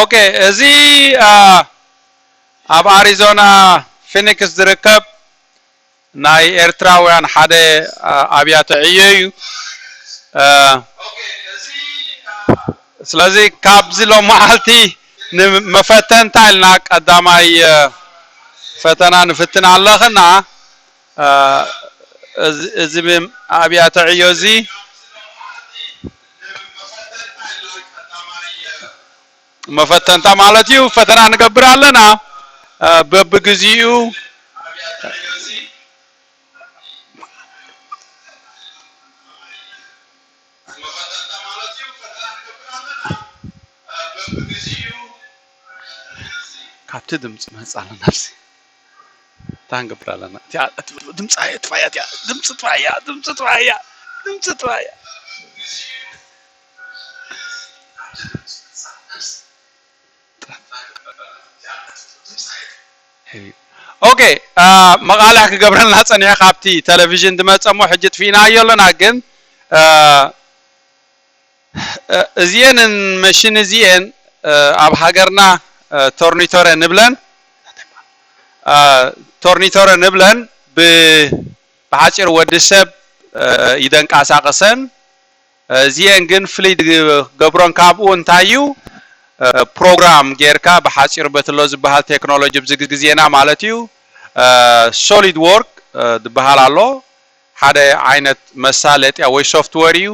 ኦኬ እዚ ኣብ ኣሪዞና ፊኒክስ ዝርከብ ናይ ኤርትራውያን ሓደ ኣብያተ ዕዮ እዩ ስለዚ ካብዚ ሎ መዓልቲ ንመፈተንታ ኢልና ቀዳማይ ፈተና ንፍትን ኣለኽና እዚ ኣብያተ ዕዮ እዚ መፈተንታ ማለት እዩ ፈተና ንገብር ኣለና በብግዚኡ ካብቲ ድምፂ መፃ ኣለናብዚ እንታይ ክንገብር ኣለና እቲኣ እትብል ድምፂ ኣየጥፋእያ እቲኣ ድምፂ ጥፋእያ ድምፂ ጥፋእያ ድምፂ ጥፋእያ ኦኬ መቓልሕ ክገብረልና ፀኒሐ ካብቲ ቴሌቭዥን ዝመፀ እሞ ሕጂ ጥፊእናዮ ኣለና ግን እዚኤን መሽን እዚኤን ኣብ ሃገርና ቶርኒቶረ ንብለን ቶርኒቶረ ንብለን ብሓጺሩ ወዲ ሰብ ይደንቃሳቅሰን እዚኤን ግን ፍልይ ዝገብሮን ካብኡ እንታይ እዩ ፕሮግራም ጌርካ ብሓጺሩ በቲ ኣሎ ዝበሃል ቴክኖሎጂ ኣብዚ ግዜና ማለት እዩ ሶሊድ ዎርክ ዝበሃል ኣሎ ሓደ ዓይነት መሳለጥያ ወይ ሶፍትወር እዩ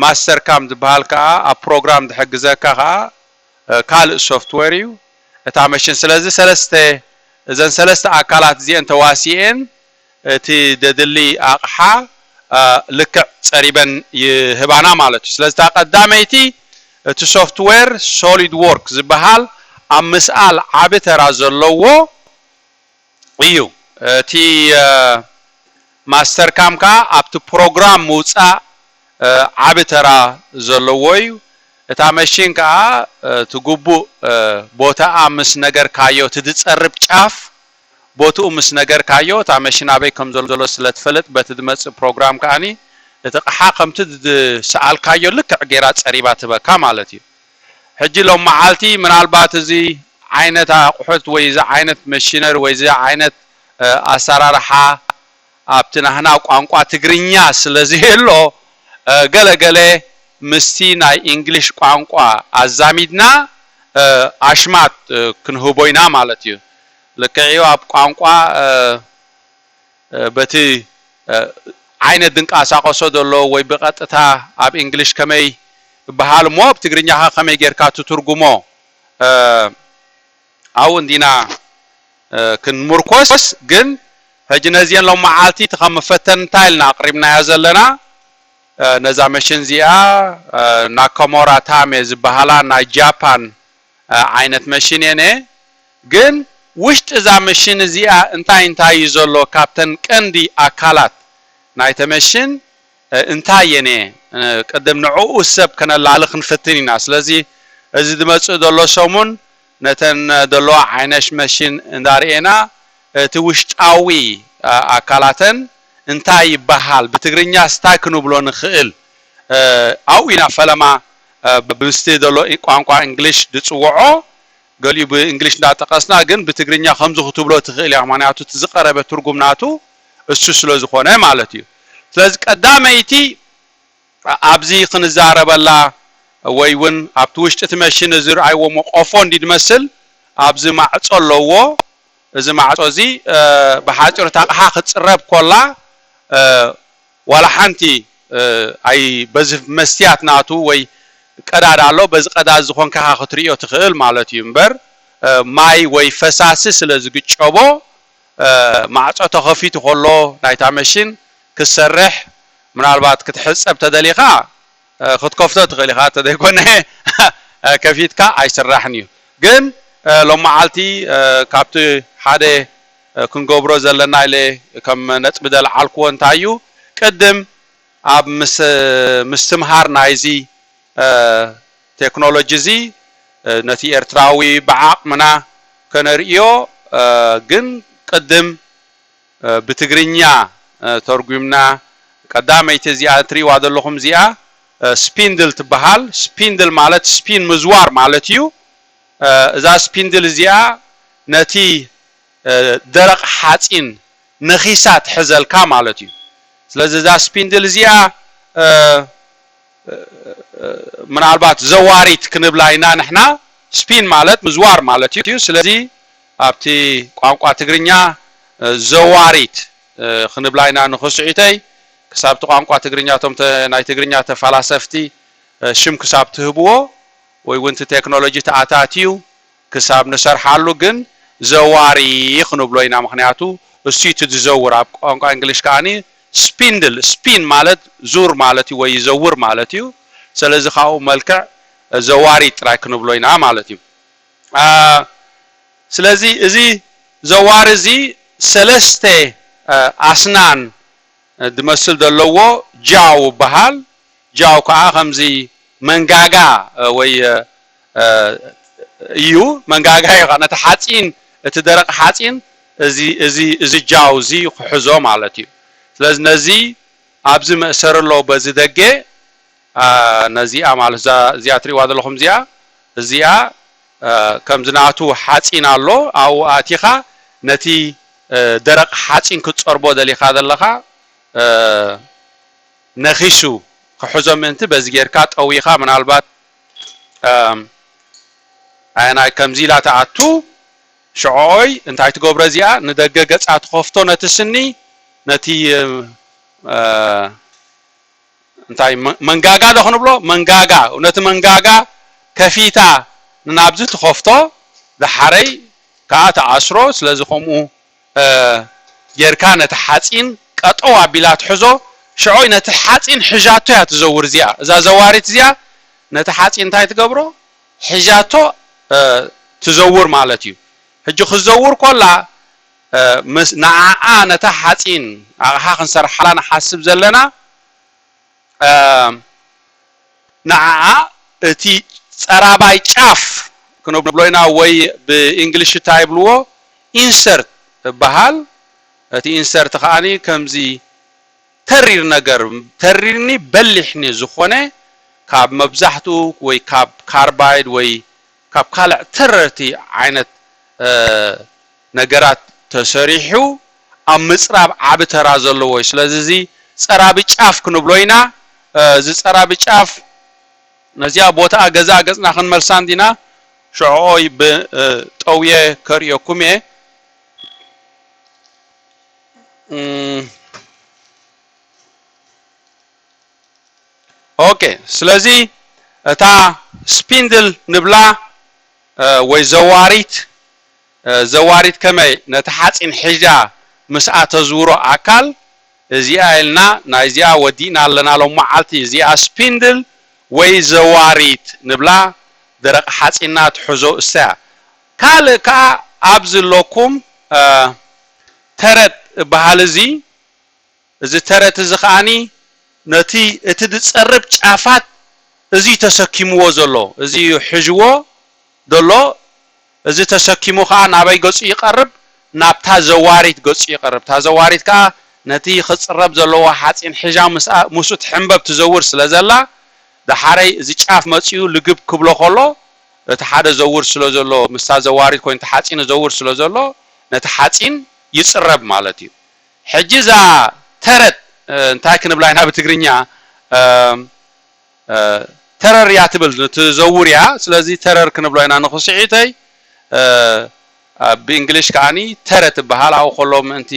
ማስተር ካም ዝብሃል ከኣ ኣብ ፕሮግራም ዝሕግዘካ ከኣ ካልእ ሶፍትዌር እዩ እታ መሽን ስለዚ ሰለስተ እዘን ሰለስተ ኣካላት እዚኤን ተዋሲኤን እቲ ዘድሊ ኣቕሓ ልክዕ ጸሪበን ይህባና ማለት እዩ ስለዚ እታ ቀዳመይቲ እቲ ሶፍትዌር ሶሊድዎርክ ዝብሃል ኣብ ምስኣል ዓቢ ተራ ዘለዎ እዩ እቲ ማስተር ካም ከኣ ኣብቲ ፕሮግራም ምውጻእ ዓቢ ተራ ዘለዎ እዩ እታ መሺን ከኣ እቲ ግቡእ ቦታኣ ምስ ነገርካዮ እቲ ዝጸርብ ጫፍ ቦትኡ ምስ ነገርካዮ እታ መሺን ኣበይ ከም ዘሎ ስለ ትፈልጥ በቲ ዝመጽእ ፕሮግራም ከኣ እቲ ቕሓ ከምቲ ዝሰኣልካዮ ልክዕ ጌራ ጸሪባ ትህበካ ማለት እዩ። ሕጂ ሎሚ መዓልቲ ምናልባት እዚ ዓይነት ኣቑሑት ወይ እዚ ዓይነት መሽነሪ ወይ እዚ ዓይነት ኣሰራርሓ ኣብቲ ናህና ቋንቋ ትግርኛ ስለ ዘየሎ ገለ ገለ ምስቲ ናይ እንግሊሽ ቋንቋ ኣዛሚድና ኣሽማት ክንህቦ ኢና ማለት እዩ። ልክዕ'ዩ ኣብ ቋንቋ በቲ ዓይነት ዝንቃሳቀሶ ዘሎ ወይ ብቀጥታ ኣብ English ከመይ ይብሃል እሞ ብ ትግርኛ ከ ከመይ ጌርካ ትትርጉሞ ኣብኡ እንዲና ክንሙርኮስ ግን ሕጂ ነዚኤን ሎማዓልቲ እቲ ከም መፈተንታ ኢልና ኣቅሪብናዮ ዘለና ነዛ መሽን እዚኣ ናከሞራ ታሜ ዝብሃላ ናይ ጃፓን ዓይነት መሽን እየ ነየ ግን ውሽጢ እዛ መሽን እዚኣ እንታይ እንታይ እዩ ዘሎ ካብተን ቀንዲ ኣካላት ናይተ መሽን እንታይ እየ ነየ ቅድም ንዕኡ ሰብ ከነላሊ ክንፍትን ኢና ስለዚ እዚ ዝመፅእ ዘሎ ሰሙን ነተን ዘለዋ ዓይነሽ መሽን እንዳርኤና እቲ ውሽጣዊ ኣካላተን እንታይ ይባሃል ብትግርኛስ እንታይ ክንብሎ ንክእል ኣብኡ ኢና ፈለማ ብብዝቲ ዘሎ ቋንቋ እንግሊሽ ዝጽውዖ ገሊኡ ብእንግሊሽ እንዳጠቀስና ግን ብትግርኛ ከምዚ ክትብሎ ትክእል ኢካ ምክንያቱ እቲ ዝቀረበ ትርጉም ናቱ እሱ ስለ ዝኮነ ማለት እዩ ስለዚ ቀዳመይቲ ኣብዚ ክንዛረበላ ወይ ውን ኣብቲ ውሽጢ እቲ መሽን እዚ ርኣይዎሞ ቆፎ እንድዩ ዝመስል ኣብዚ ማዕጾ ኣለዎ እዚ ማዕጾ እዚ ብሓጺሩ እታ ኣቅሓ ክትጽረብ ኮላ ዋላ ሓንቲ ኣይ በዚ መስትያት ናቱ ወይ ቀዳዳ ኣሎ በዚ ቀዳዳ እዚ ኮንካ ኢኻ ክትርእዮ ትኽእል ማለት እዩ እምበር ማይ ወይ ፈሳሲ ስለ ዝግጨቦ ማዕጾ ተኸፊቱ ከሎ ናይታ መሽን ክትሰርሕ ምናልባት ክትሕጸብ ተደሊኻ ክትከፍቶ ትኽእል ኢኻ ተዘይኮነ ከፊትካ ኣይስራሕን እዩ ግን ሎማዓልቲ ካብቲ ሓደ ክንገብሮ ዘለና ኢለ ከም ነጥቢ ዘልዓልክዎ እንታይ እዩ ቅድም ኣብ ምስ ምስትምሃር ናይዚ ቴክኖሎጂ እዚ ነቲ ኤርትራዊ ብዓቕምና ከነርእዮ ግን ቅድም ብትግርኛ ተርጉምና ቀዳመይቲ እዚኣ እትሪእዋ ዘለኹም እዚኣ ስፒንድል ትበሃል። ስፒንድል ማለት ስፒን ምዝዋር ማለት እዩ። እዛ ስፒንድል እዚኣ ነቲ ደረቕ ሓጺን ነኺሳ ትሕዘልካ ማለት እዩ። ስለዚ እዛ ስፒንድል እዚኣ ምናልባት ዘዋሪት ክንብላ ኢና ንሕና። ስፒን ማለት ምዝዋር ማለት እዩ። ስለዚ ኣብቲ ቋንቋ ትግርኛ ዘዋሪት ክንብላ ኢና ንክስዒተይ ክሳብ እቲ ቋንቋ ትግርኛ እቶም ናይ ትግርኛ ተፋላሰፍቲ ሽም ክሳብ ትህብዎ ወይ ውን እቲ ቴክኖሎጂ ተኣታትዩ ክሳብ ንሰርሓሉ ግን ዘዋሪ ክንብሎ ኢና ምክንያቱ እሱዩ እቲ ዝዘውር ኣብ ቋንቋ እንግሊሽ ከኣ ስፒንድል ስፒን ማለት ዙር ማለት እዩ ወይ ይዘውር ማለት እዩ ሰለዚ ካብኡ መልክዕ ዘዋሪት ጥራይ ክንብሎ ኢና ማለት እዩ። ስለዚ እዚ ዘዋሪ እዚ ሰለስተ ኣስናን ዝመስል ዘለዎ ጃው ይበሃል። ጃው ከኣ ከምዚ መንጋጋ ወይ እዩ መንጋጋ እዩ ነቲ ሓጺን እቲ ደረቅ ሓጺን እዚ እዚ እዚ ጃው እዚ ክሕዞ ማለት እዩ። ስለዚ ነዚ ኣብዚ መእሰሪ ኣሎ በዚ ደገ። ነዚኣ ማለት እዛ እዚኣ ትሪእዋ ዘለኹም እዚኣ እዚኣ ከምዚ ናቱ ሓጺን ኣሎ ኣብኡ ኣእቲኻ ነቲ ደረቕ ሓጺን ክትጸርቦ ደሊኻ ዘለኻ ነኺሱ ክሕዞ ምእንቲ በዚ ጌርካ ጠዊኻ ምናልባት ኣየናይ ከምዚ ኢላ ትኣቱ ሽዕኦይ እንታይ ትገብሮ እዚኣ ንደገ ገጻ ትኸፍቶ ነቲ ስኒ ነቲ እንታይ መንጋጋ ዶ ክንብሎ መንጋጋ ነቲ መንጋጋ ከፊታ ንኣብዚ ትኸፍቶ ዳሓረይ ካኣ ትኣስሮ ስለዚ ከምኡ ጌርካ ነቲ ሓጺን ቀጠው ኣቢላ ትሕዞ ሽዑ ነቲ ሓጺን ሒዣቶ እያ ትዘውር እዚኣ እዛ ዘዋሪት እዚኣ ነቲ ሓጺን እንታይ ትገብሮ ሒዣቶ ትዘውር ማለት እዩ ሕጂ ክትዘውር ኮላ ምስ ንዓኣ ነታ ሓጺን ኣቕሓ ክንሰርሓላ ንሓስብ ዘለና ንዓኣ እቲ ጸራባይ ጫፍ ክንብሎ ኢና ወይ ብእንግሊሽታ ይብልዎ Insert እብሃል እቲ Insert ከኣ ከምዚ ተሪር ነገር ተሪርኒ በሊሕኒ ዝኾነ ካብ መብዛሕትኡ ወይ ካብ ካርባይድ ወይ ካብ ካልዕ ተረርቲ ዓይነት ነገራት ተሰሪሑ ኣብ ምጽራብ ዓቢ ተራ ዘለዎ እዩ። ስለዚ እዚ ጸራቢ ጫፍ ክንብሎ ኢና። እዚ ጸራቢ ጫፍ ነዚኣ ቦታኣ ገዛኣ ገጽና ክንመልሳ እንዲና ሸዕኦይ ብ ጠውየ ከርእየኩም እየ። ኦኬ ስለዚ እታ ስፒንድል ንብላ ወይ ዘዋሪት ዘዋሪት ከመይ ነቲ ሓጺን ሒዣ ምስኣ ተዝውሮ ኣካል እዚኣ ኢልና ናይ እዚኣ ወዲእና ኣለና ሎማዓልቲ እዚኣ ስፒንድል ወይ ዘዋሪት ንብላ ደረቅ ሓጺና ትሕዞ እሳያ ካልእ ከኣ ኣብዚ ኣለኩም ተረጥ እባሃል እዚ እዚ ተረት እዚ ከኣ ነቲ እቲ ዝጸርብ ጫፋት እዚ ተሰኪምዎ ዘሎ እዚ ሕዥዎ ዘሎ እዚ ተሰኪሙ ከኣ ናበይ ገጹ ይቀርብ ናብታ ዘዋሪት ገጹ ይቀርብ እታ ዘዋሪት ከኣ ነቲ ክጽረብ ዘለዎ ሓጺን ሒዣ ምስኡ ትሕንበብ ትዘውር ስለ ዘላ ደሓረይ እዚ ጫፍ መጺኡ ልግብ ክብሎ ከሎ እቲ ሓደ ዘውር ስለ ዘሎ ምስታ ዘዋሪት ኮይኑ ተሓጺኑ ዘውር ስለ ዘሎ ነቲ ሓጺን ይጽረብ ማለት እዩ። ሕጂ እዛ ተረት እንታይ ክንብላ ኢና ብትግርኛ ተረር እያ ትብል ትዘውር እያ ስለዚ ተረር ክንብሎ ኢና ንክስዒተይ ብእንግሊሽ ከኣ ተረት ይበሃል ኣብኡ ከሎ ምእንቲ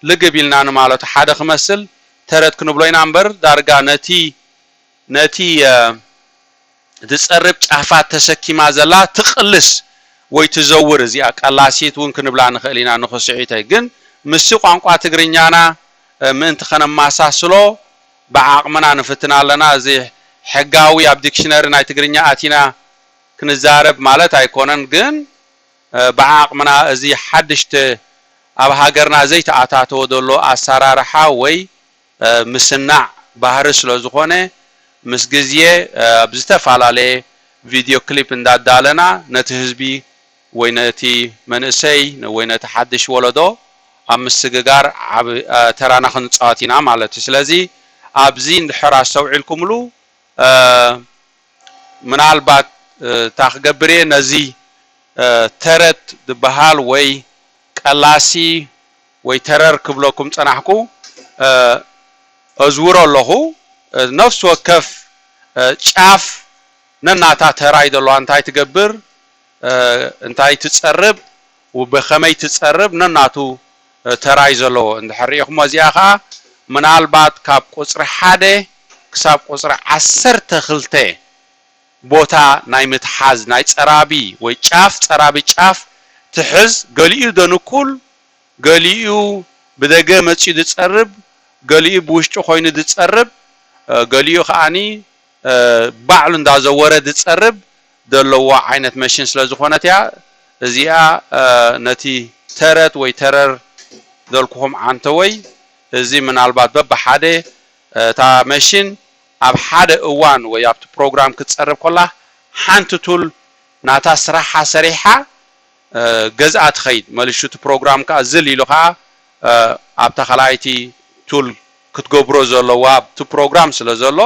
ልግብ ኢልና ንማለቱ ሓደ ክመስል ተረት ክንብሎ ኢና እምበር ዳርጋ ነቲ ነቲ ዝጸርብ ጫፋት ተሰኪማ ዘላ ትቕልስ ወይ ትዘውር እዚኣ ቀላሲት ውን ክንብላ ንኽእል ኢና ንክስሒተይ ግን ምስዚ ቋንቋ ትግርኛና ምእንቲ ከነማሳስሎ ብዓቕምና ንፍትን ኣለና እዚ ሕጋዊ ኣብ ዲክሽነሪ ናይ ትግርኛ ኣቲና ክንዛረብ ማለት ኣይኮነን ግን ብዓቕምና እዚ ሓድሽ ኣብ ሃገርና ዘይተኣታተወ ዘሎ ኣሳራርሓ ወይ ምስናዕ ባህሪ ስለ ዝኾነ ምስ ግዝየ ኣብ ዝተፈላለየ ቪድዮ ክሊፕ እንዳዳለና ነቲ ህዝቢ ወይ ነቲ መንእሰይ ወይ ነቲ ሓድሽ ወለዶ ኣብ ምስግጋር ዓቢ ተራና ክንጻወት ኢና ማለት እዩ ስለዚ ኣብዚ እንድሕር ኣስተውዒልኩምሉ ምናልባት እታ ክገብር እየ ነዚ ተረት ድብሃል ወይ ቀላሲ ወይ ተረር ክብለኩም ጸናሕኩ ኣዝውሮ ኣለኹ ነፍሲ ወከፍ ጫፍ ነናታ ተራ እዩ ዘለዋ እንታይ ትገብር እንታይ ትጸርብ ብኸመይ ትጸርብ ነናቱ ተራ እዩ ዘለዎ እንድሕር ሪኢኹሞ እዚኣ ከኣ ምናልባት ካብ ቁጽሪ ሓደ ክሳብ ቁጽሪ ዓሰርተ ክልተ ቦታ ናይ ምትሓዝ ናይ ጸራቢ ወይ ጫፍ ጸራቢ ጫፍ ትሕዝ ገሊኡ ደንኩል ገሊኡ ብደገ መጺኡ ድጸርብ ገሊኡ ብውሽጢ ኮይኑ ድጸርብ ገሊኡ ከኣ ባዕሉ እንዳዘወረ ድጸርብ ደለዎ ዓይነት መሽን ስለ ዝኾነት እያ እዚኣ ነቲ ተረት ወይ ተረር ደልኩኹም ዓንተወይ እዚ ምናልባት በብሓደ እታ መሽን ኣብ ሓደ እዋን ወይ ኣብቲ ፕሮግራም ክትጸርብ ኮላ ሓንቲ ቱል ናታ ስራሓ ሰሪሓ ገዝኣ ትኸይድ መልሹ እቲ ፕሮግራም ከኣ ዝል ኢሉ ከኣ ኣብታ ካልኣይቲ ቱል ክትገብሮ ዘለዋ ኣብቲ ፕሮግራም ስለ ዘሎ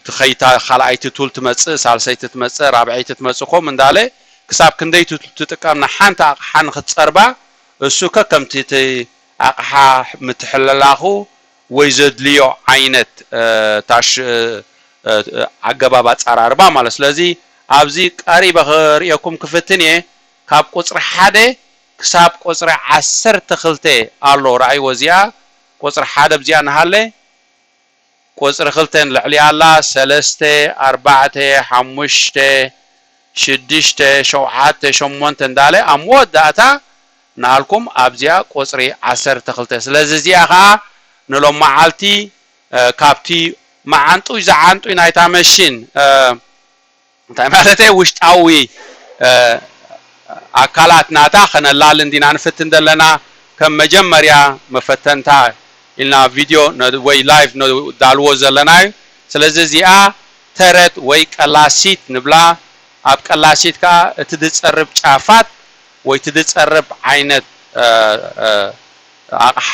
ትኸይድታ ካልኣይቲ ቱል ትመጽእ ሳልሰይቲ ትመጽእ ራብዐይቲ ትመጽእ ኮም እንዳለ ክሳብ ክንደይቲ ትጥቀም ንሓንቲ ኣቕሓ ንክትጸርባ እሱ ከከምቲ እቲ ኣቕሓ ምትሕልላኹ ወይ ዘድልዮ ዓይነት ታሽ ኣገባብ ኣጻራርባ ማለት ስለዚ ኣብዚ ቀሪበ ክርእየኩም ክፍትን እየ ካብ ቁጽሪ ሓደ ክሳብ ቁጽሪ ዓሰርተ ክልተ ኣሎ ራኣይዎ እዚኣ ቁጽሪ ሓደ ብዚኣ ንሃለ ቁጽሪ ክልተን ልዕሊ ኣላ ሰለስተ ኣርባዕተ ሓሙሽተ ሽድሽተ ሸውዓተ ሸሞንተ እንዳለ ኣብ መወዳእታ ንኣልኩም ኣብዚኣ ቁጽሪ ዓሰርተ ክልተ ስለዚ እዚኣ ከኣ ንሎማዓልቲ ካብቲ መዓንጡይ ዝዓንጡይ ናይታ መሽን እንታይ ማለተይ ውሽጣዊ ኣካላት ናታ ከነላሊ እንዲና ንፍትን ዘለና ከም መጀመርያ መፈተንታ ኢልና ቪድዮ ወይ ላይቭ ነዳልዎ ዘለና እዩ ስለዚ እዚኣ ተረት ወይ ቀላሲት ንብላ ኣብ ቀላሲት ከኣ እቲ ድጸርብ ጫፋት ወይ እቲ ድጸርብ ዓይነት ኣቕሓ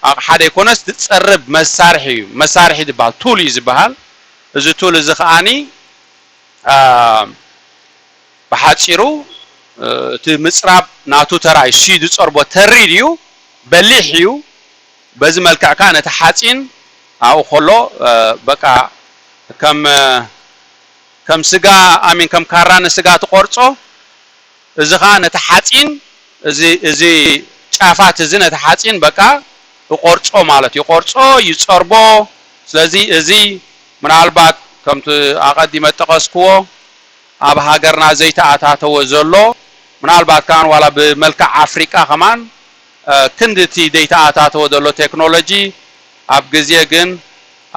ኣቕሓ ደይኮነስ ድጸርብ መሳርሒ እዩ መሳርሒ ድበሃል ቱል እዩ ዝበሃል እዚ ቱል እዚ ከኣ ብሓጺሩ እቲ ምጽራብ ናቱ ተራ እዩ። እሱይ ዝጸርቦ ተሪር እዩ፣ በሊሕ እዩ። በዚ መልክዕ ከኣ ነቲ ሓጺን ኣብኡ ከሎ በቃ ከም ከም ስጋ ኣሚን ከም ካራ ንስጋ ትቆርጾ። እዚ ኸኣ ነቲ ሓጺን እዚ እዚ ጫፋት እዚ ነቲ ሓጺን በቃ እቆርጾ ማለት እዩ ይቆርጾ ይጸርቦ ስለዚ እዚ ምናልባት ከምቲ ኣቀዲመ እጠቀስክዎ ኣብ ሃገርና ዘይተኣታተወ ዘሎ ምናልባት ከኣ ዋላ ብመልክዕ ኣፍሪቃ ከማን ክንዲ እቲ ደይተኣታተወ ዘሎ ቴክኖሎጂ ኣብ ግዜ ግን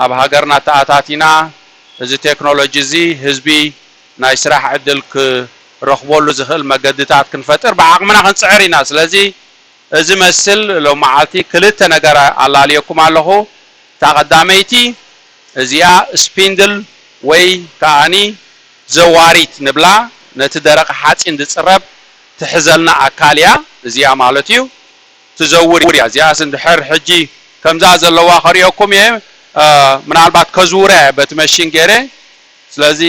ኣብ ሃገርና ተኣታቲና እዚ ቴክኖሎጂ እዚ ህዝቢ ናይ ስራሕ ዕድል ክረኽበሉ ዝኽእል መገዲታት ክንፈጥር ብዓቕምና ክንጽዕር ኢና። ስለዚ እዚ መስል ሎምዓልቲ ክልተ ነገር ኣላልየኩም ኣለኹ። እታ ቀዳመይቲ እዚኣ ስፒንድል ወይ ከኣኒ ዘዋሪት ንብላ ነቲ ደረቕ ሓጺን ዝጽረብ ትሕዘልና ኣካል እያ እዚኣ ማለት እዩ ትዘውር እያ እዚኣስ እንድሕር ሕጂ ከምዛ ዘለዋ ከርእየኩም እየ ምናልባት ከዝውራ እየ በቲ መሺን ጌረ ስለዚ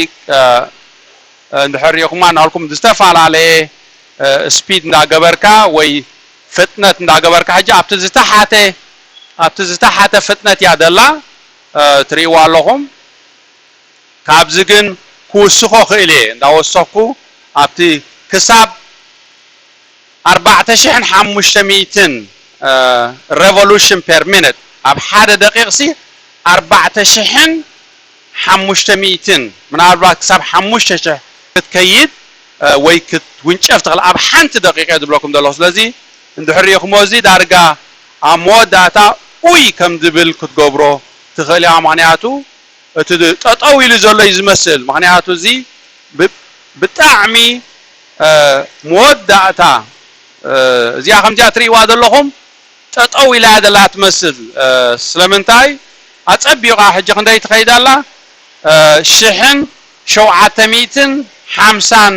እንድሕር ሪኢኹማ ናልኩም ዝተፈላለየ ስፒድ እንዳገበርካ ወይ ፍጥነት እንዳገበርካ ሕጂ ኣብቲ ዝተሓተ ኣብቲ ዝተሓተ ፍጥነት እያ ዘላ ትሪእዋ ኣለኹም ካብዚ ግን ክውስኾ ክእል እየ እንዳወሰኽኩ ኣብቲ ክሳብ ኣርባዕተ ሽሕን ሓሙሽተ ሚእትን ረቮሉሽን ፔር ሚንት ኣብ ሓደ ደቂቕሲ ኣርባዕተ ሽሕን ሓሙሽተ ሚእትን ምናልባት ክሳብ ሓሙሽተ ሽሕ ክትከይድ ወይ ክትውንጨፍ ትኽእል ኣብ ሓንቲ ደቂቕ እየ ዝብለኩም ዘለኹ ስለዚ እንድሕር ሪኢኽሞ እዚ ዳርጋ ኣብ መወዳእታ ኡይ ከም ዝብል ክትገብሮ ትኽእል ኢኻ ምኽንያቱ እቲ ጠጠው ኢሉ ዘሎ እዩ ዝመስል ምኽንያቱ እዚ ብጣዕሚ መወዳእታ እዚኣ ከምዚኣ ትሪእዋ ዘለኹም ጠጠው ኢላ እያ ዘላ ትመስል ስለምንታይ ኣጸቢቃ ሕጂ ክንደይ ትከይድ ኣላ ሽሕን ሸውዓተ ሚእትን ሓምሳን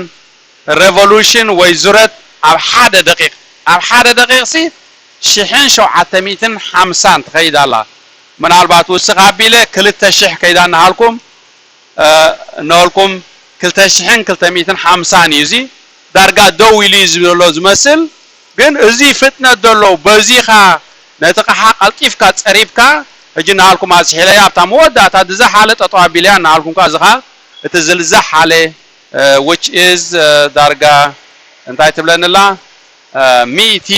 ረቮሉሽን ወይ ዙረት ኣብ ሓደ ደቂቅ ኣብ ሓደ ደቂቅ ሲ ሽሕን ሸውዓተ ሚእትን ሓምሳን ትከይድ ኣላ ምናልባት ውስክ ኣቢለ ክልተ ሽሕ ከይዳ እናሃልኩም እነበልኩም ክልተ ሽሕን ክልተ ሚእትን ሓምሳን እዩ እዚ ዳርጋ ደው ኢሉ እዩ ዘሎ ዝመስል ግን እዚ ፍጥነት ደሎ በዚኻ ነቲ ቕሓ ቀልጢፍካ ጸሪብካ ሕጂ ናሃልኩም ኣዝሒለያ ኣብታ መወዳእታ ድዛሓለ ጠጠው ኣቢለያ ናሃልኩም ከኣ እዚኻ እቲ ዝልዛሓለ which is ዳርጋ እንታይ ትብለኒ ኣላ ሚእቲ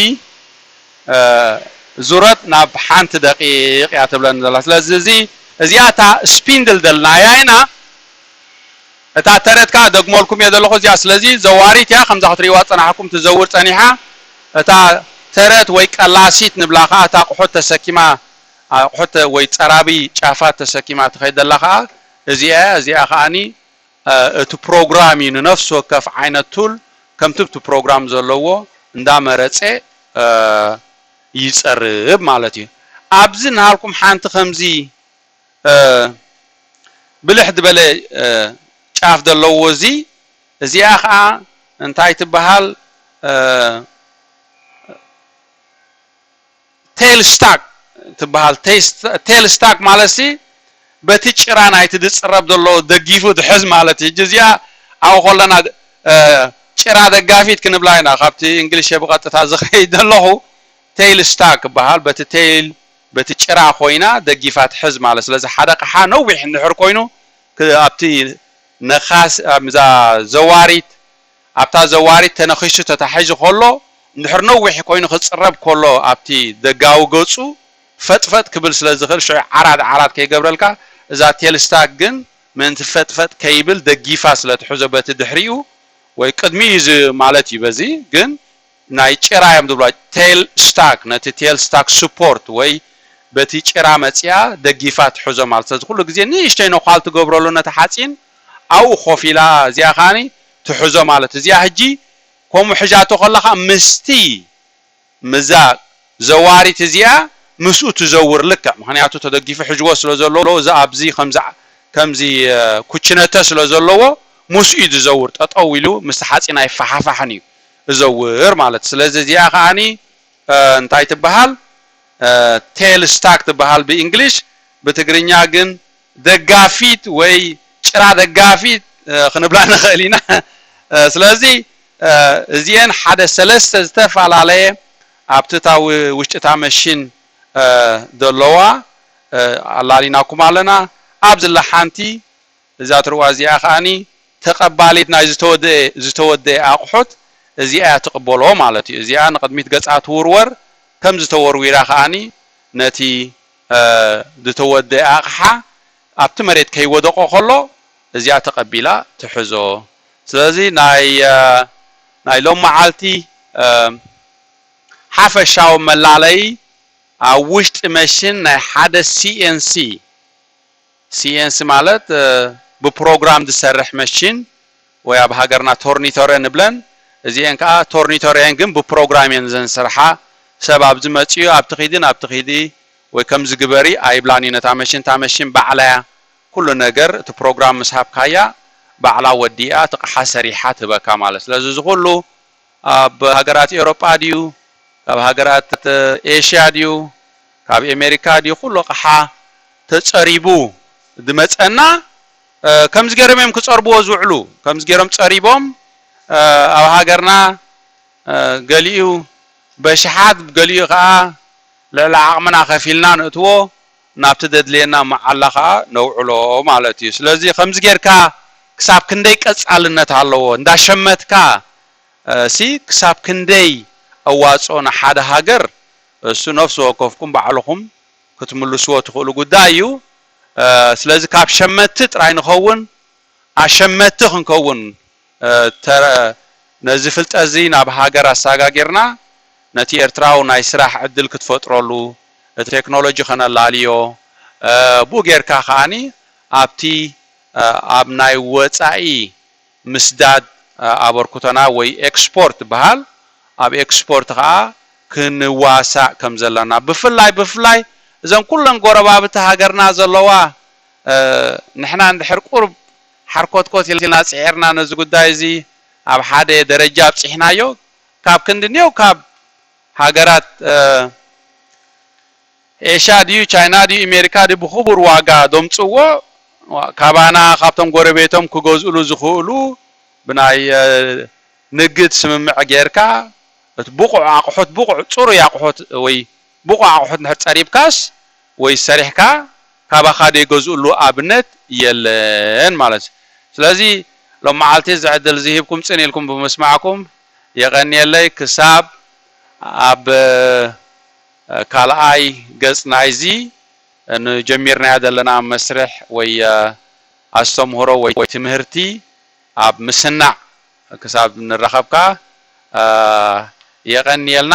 ዙረት ናብ ሓንቲ ደቂቅ እያ ትብለኒ ዘላ ስለዚ እዚ እዚኣ እታ ስፒንድል ደልናያ ኢና እታ ተረት ከኣ እደግመልኩም እየ ዘለኹ እዚኣ ስለዚ ዘዋሪት እያ ከምዛ ክትርእይዋ ዝጸናሕኩም ትዘውር ጸኒሓ እታ ተረት ወይ ቀላሲት ንብላ ከኣ እታ ኣቕሑት ተሰኪማ ኣቕሑት ወይ ጸራቢ ጫፋት ተሰኪማ ትኸይድ ዘላ ከኣ እዚኣ እያ እዚኣ ከኣኒ እቲ ፕሮግራም እዩ ንነፍሲ ወከፍ ዓይነት ቱል ከምቲ ኣብቲ ፕሮግራም ዘለዎ እንዳመረጸ ይጸርብ ማለት እዩ ኣብዚ ናሃልኩም ሓንቲ ከምዚ ብልሕ ድበለ ጫፍ ደለዎ እዚ እዚኣ ከኣ እንታይ ትበሃል ቴል ስታክ ትበሃል ቴል ስታክ ማለትሲ በቲ ጭራ ናይቲ ድጽረብ ደሎ ደጊፉ ድሕዝ ማለት እዩ ህጂ እዚኣ ኣብኡ ከለና ጭራ ደጋፊት ክንብላ ኢና ካብቲ እንግሊሸ ብቀጥታ ዝከይድ ደለኩ ቴል ስታክ ይበሃል በቲ ቴል በቲ ጭራ ኮይና ደጊፋ ትሕዝ ማለት ስለዚ ሓደ ኣቅሓ ነዊሕ እንድሕር ኮይኑ ኣብቲ ነካሲ ኣብዛ ዘዋሪት ኣብታ ዘዋሪት ተነኪሱ ተታሒዙ ከሎ እንድሕር ነዊሕ ኮይኑ ክጽረብ ከሎ ኣብቲ ደጋዊ ገጹ ፈጥፈጥ ክብል ስለ ዝክእል ሽዑ ዓራት ዓራት ከይገብረልካ እዛ ቴልስታክ ግን ምእንቲ ፈጥፈጥ ከይብል ደጊፋ ስለ ትሕዞ በቲ ድሕሪኡ ወይ ቅድሚኡ እዩ ማለት እዩ በዚ ግን ናይ ጭራ እዮም ዝብልዋ ቴል ስታክ ነቲ ቴል ስታክ ስፖርት ወይ በቲ ጭራ መጺኣ ደጊፋ ትሕዞ ማለት ስለዚ ኩሉ ግዜ ንእሽተይ ነዃል ትገብረሉ ነቲ ሓጺን ኣብኡ ኮፍ ኢላ እዚኣ ከኣ ትሕዞ ማለት እዚኣ ህጂ ከምኡ ሒዛቶ ከላ ከኣ ምስቲ ምስዛ ዘዋሪት እዚኣ ምስኡ ትዘውር ልክዕ ምኽንያቱ ተደጊፉ ሒዝዎ ስለ ዘሎ እዚ ኣብዚ ከምዚ ከምዚ ኩችነተ ስለ ዘለዎ ምስኡ እዩ ዝዘውር ጠጠው ኢሉ ምስቲ ሓጺን ኣይፋሓፋሕን እዩ እዘውር ማለት እዩ ስለዚ እዚኣ ከኣኒ እንታይ ትበሃል ቴል ስታክ ትበሃል ብእንግሊሽ ብትግርኛ ግን ደጋፊት ወይ ጭራ ደጋፊት ክንብላ ንኽእል ኢና ስለዚ እዚኤን ሓደ ሰለስተ ዝተፈላለየ ኣብቲ እታ ውሽጢ እታ መሽን ዘለዋ ኣላሊናኩም ኣለና ኣብዚ እላ ሓንቲ እዛ ትርዋ እዚኣ ከኣ ተቐባሊት ናይ ዝተወደኤ ዝተወደኤ ኣቕሑት እዚኣ እያ ትቕበሎ ማለት እዩ። እዚኣ ንቕድሚት ገጻ ትውርወር፣ ከምዚ ተወርዊራ ከኣ ነቲ ዝተወደኤ ኣቕሓ ኣብቲ መሬት ከይወደቖ ከሎ እዚኣ ተቐቢላ ትሕዞ። ስለዚ ናይ ናይ ሎምዓልቲ ሓፈሻዊ መላለዪ ኣብ ውሽጢ መሽን ናይ ሓደ CNC፣ ሲኤንሲ ማለት ብፕሮግራም ዝሰርሕ መሽን ወይ ኣብ ሃገርና ቶርኒቶረ ንብለን እዚኤን ከኣ ቶርኒቶረ እየን ግን ብፕሮግራም እየን ዘንስርሓ ሰብ ኣብዚ መጺኡ ኣብቲ ኪዲ ናብቲ ኪዲ ወይ ከምዚ ግበሪ ኣይብላን እዩን እታ መሽን እታ መሽን ባዕላ እያ ኩሉ ነገር እቲ ፕሮግራም ምስ ሃብካያ ባዕላ ወዲኣ እቲ ቅሓ ሰሪሓ ትህበካ ማለት ስለዚ እዚ ኩሉ ኣብ ሃገራት ኤውሮጳ ድዩ ካብ ሃገራት ኤሽያ ድዩ ካብ ኤሜሪካ ድዩ ኩሉ ኣቕሓ ተጸሪቡ ድመጸና ከምዚ ጌሮም እዮም ክጸርብዎ ዝውዕሉ ከምዚ ጌሮም ጸሪቦም ኣብ ሃገርና ገሊኡ በሽሓት ገሊኡ ከኣ ልዕሊ ዓቕምና ከፊልና ንእትዎ ናብቲ ዘድልየና መዓላ ከኣ ነውዕሎ ማለት እዩ። ስለዚ ከምዚ ጌርካ ክሳብ ክንደይ ቀጻልነት ኣለዎ፣ እንዳሸመትካ ሲ ክሳብ ክንደይ ኣዋጽኦ ንሓደ ሃገር እሱ ነፍሲ ወከፍኩም ባዕልኹም ክትምልስዎ ትኽእሉ ጉዳይ እዩ። ስለዚ ካብ ሸመትቲ ጥራይ ንኸውን ኣሸመትቲ ክንከውን ተረ ነዚ ፍልጠትዚ ናብ ሃገር ኣሳጋጊርና ነቲ ኤርትራዊ ናይ ስራሕ ዕድል ክትፈጥረሉ እቲ ቴክኖሎጂ ከነላልዮ ብኡ ጌርካ ከኣ ኣብቲ ኣብ ናይ ወጻኢ ምስዳድ ኣበርኩቶና ወይ ኤክስፖርት ዝበሃል ኣብ ኤክስፖርት ከኣ ክንዋሳእ ከም ዘለና ብፍላይ ብፍላይ እዘን ኩለን ጎረባብቲ ሃገርና ዘለዋ ንሕና እንድሕር ቁሩብ ሓርኮትኮት ኢልና ጽዒርና ነዚ ጉዳይ እዚ ኣብ ሓደ ደረጃ ኣብጺሕናዮ፣ ካብ ክንዲ ኔው ካብ ሃገራት ኤሽያ ድዩ ቻይና ድዩ ኤሜሪካ ድዩ ብኽቡር ዋጋ ዶምጽዎ ካባና ካብቶም ጎረቤቶም ክገዝእሉ ዝኽእሉ ብናይ ንግድ ስምምዕ ጌርካ እቲ ብቑዕ ኣቕሑት ብቑዕ ጽሩይ ኣቕሑት ወይ ብቑዕ ኣቑሑት እንድሕር ፀሪብካስ ወይ ሰሪሕካ ካባኻ ዘይገዝእሉ ኣብነት የለን ማለት እዩ። ስለዚ ሎምዓልቲ እዚ ዕድል እዚ ሂብኩም ፅን ኢልኩም ብምስማዕኩም የቐንየለይ። ክሳብ ኣብ ካልኣይ ገፅ ናይዚ ንጀሚርናዮ ዘለና መስርሕ ወይ ኣስተምህሮ ወይ ትምህርቲ ኣብ ምስናዕ ክሳብ ንራኸብ ከዓ የቐንየልና።